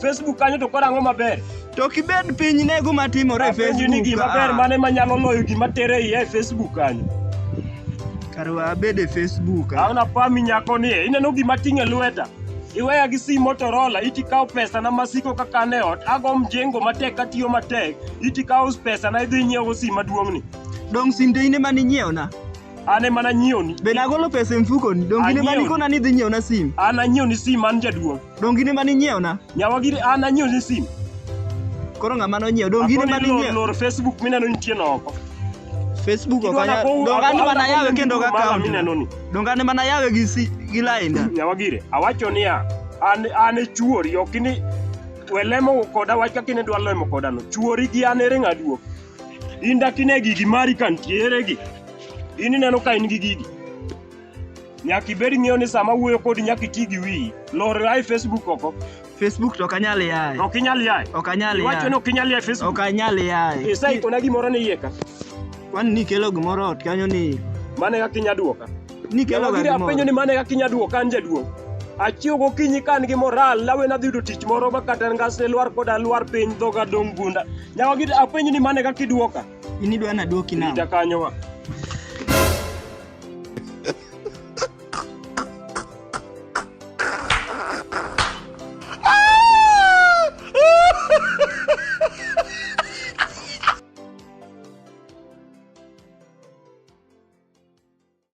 Facebook kanyo to korang'o maber. To kibed piny ne guma timore e Facebook. Ni gima ber mane manyalo loyo gima tere iye e Facebook kanyo. Kar wabed e Facebook. Aona pami nyako ni ineno gima ting'e lweta. Iweya gi sim Motorola, iti kawo pesa na masiko kaka ne ot, ago mjengo matek katiyo matek, iti kawo pesa na idhi nyiewo sim maduong'ni. Dong' sinde ine mane inyiewo na? An ema nanyiewni. Be nagolo pesa e mfukoni? Donge in ema Anyiewni. nikona ni idhi nyiewna sim? An nanyiewni sim an jaduong'. Donge in ema ninyiewna? Nyawa giri an nanyiewni sim. Koro ng'ama nonyiewo? Donge in ema Akoni lor, ninyiewo? lor Facebook mineno nitie noko. Facebook ok Idwa anyal. nakow- Donge an ema akona nayawe kondi kendo mara gakawo. mineno ni. Donge an ema nayawe gi si gi lainda. Nyawa gire, awacho niya, an an e chuori, ok ni welemo koda wach kaka inedwa lemo koda no. Chuori gi an ere ng'aduok. In dakine gigi mari ka nitiere gi. In ineno ka in gi gigi. Nyaka ibed ng'eyo ni sama wuoyo kodi nyaka iti gi wiyi. Lor ae Facebook oko. Facebook to ok anyal yaye. Ok inyal yaye. Ok anyal yaye. Iwacho ni ok inyal yaye Facebook. Ok anyal yaye. Isaikona gimoro ni iye ka. Kwani nikelo gimoro ot kanyo ni. Mano e kaka inya duoka. Nikelo gari moro. Apenjo ni mane kaka inya duoka an jaduong'. Achiew gokinyi ka an gi moral lawe nadhi yudo tich moro ma kata ngasne lwar koda lwar piny dhoga dong' gunda. Nyawa gidi apenjo ni mane kaka iduoka. In idwa naduoki nang'o? Ita kanyo wa.